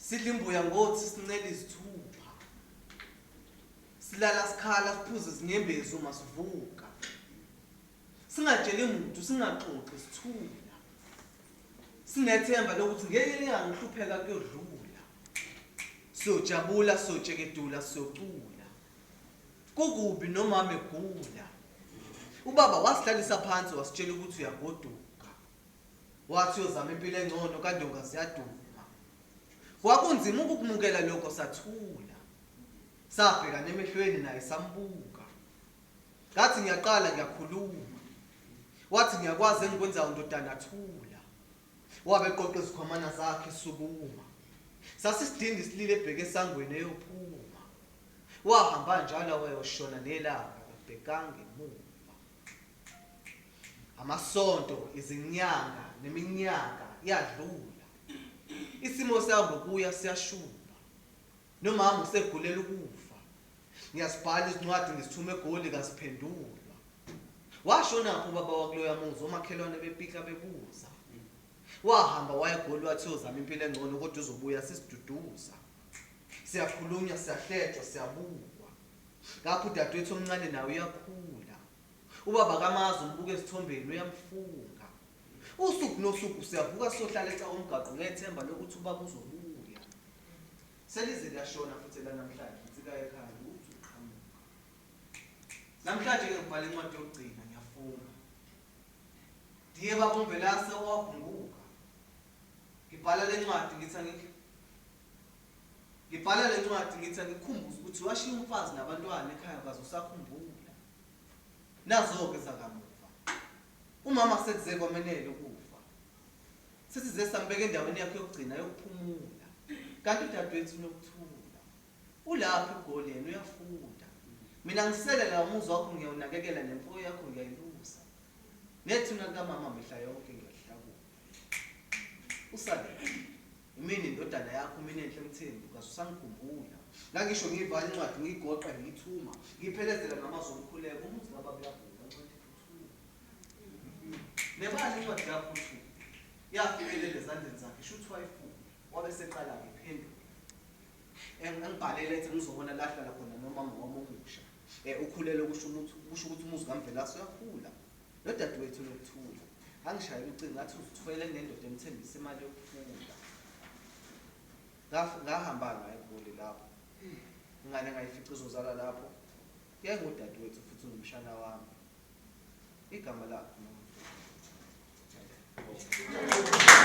Sidla imbuya ngothi sincela izithupha. Silala sikhala siphuze izinyembezi uma sivuka. Singatsheli muntu singaxoxi sithula. Sinethemba lokuthi ngeke lingangihlupheka kuyodlula. Siyojabula siyotshekedula siyocula. Kukubi nomama egula. Ubaba wasidlalisa phansi wasitshela ukuthi uyagoduka. Wathi uyozama impilo engcono kandonga ziyaduma. Kwakunzima ukukumukela lokho sathula. Sabhekana emehlweni naye sambuka. Ngathi ngiyaqala ngiyakhuluma. Wathi ngiyakwazi engikwenzayo ndodana thula. Wabe eqoqa izikhwamana zakhe sukuma. Sasisidinda isilile ebheke esangweni eyophuma. Wahamba njalo wayoshona nelanga akabhekanga emuva. Amasonto, izinyanga neminyaka yadlula. Isimo sihamba kuya siyashuba. Nomama usegulela ukufa. Ngiyazibhala izincwadi ngizithuma eGoli kaziphendulwa. Washonaphi ubaba wakuloya muzi omakhelwane bepika bebuza. Wahamba waya eGoli wathi uyozama impilo engcono kodwa uzobuya sisiduduza. Siyakhulunywa, siyahlejwa, siyabukwa. Ngakho udadewethu omncane naye uyakhula. Ubaba kamazi umbuka ezithombeni uyamfunga. Usuku nosuku siyavuka siyohlala eca komgaqo ngethemba lokuthi ubaba uzobuya. Selize liyashona futhi elanamhlanje ngifika ekhaya ukuthi uqhamuka. Namhlanje-ke ngibhala incwadi yokugcina ngiyafunga. Ndiye baba uMvelase owabhunguka. Ngibhala le ncwadi ngithi angikho Ngibhala lencwadi ngithi angikukhumbuze ukuthi washiya umfazi nabantwana ekhaya kaze usakhumbula. Nazoke zakamuva. Umama sekuze kwamenele ukufa. Sesize sambeka endaweni yakhe yokugcina yokuphumula. Kanti udadewethu unokuthula. Ulapha eGoli yena uyafunda. Mina ngisele la umuzi wakho ngiyawunakekela nemfuyo yakho ngiyayilusa. Nethuna likamama mihla yonke ngiyalihlakula. Usale. Umina indodana yakho uMinenhle Mthembu, kaze usangikhumbula. Ngangisho ngiyivala incwadi ngiyigoqa ngiyithuma, ngiyiphelezela ngamazwi omkhuleko, umuzi kababa uyavuma incwadi iphuthuma. Nebala incwadi yaphuthuma, yafikelela ezandleni zakhe shuthi wayifuna, wabe eseqala-ke ephendula. Eng- engibhalele ethi ngizobona la ahlala khona nomama wami omusha. Eh, ukhulelwe kusho umuthi, kusho ukuthi umuzi kaMvelase uyakhula. Lo dadewethu unokuthula. Ngangishayela ucingo ngathi uzithwele nendoda emthembisa imali yokufunda. Ngaf ngahamba ngaye eGoli lapho. Ingane ngayifica izozala lapho. Yayingudadewethu futhi ungumshana wami. Igama lakhe uNomvula.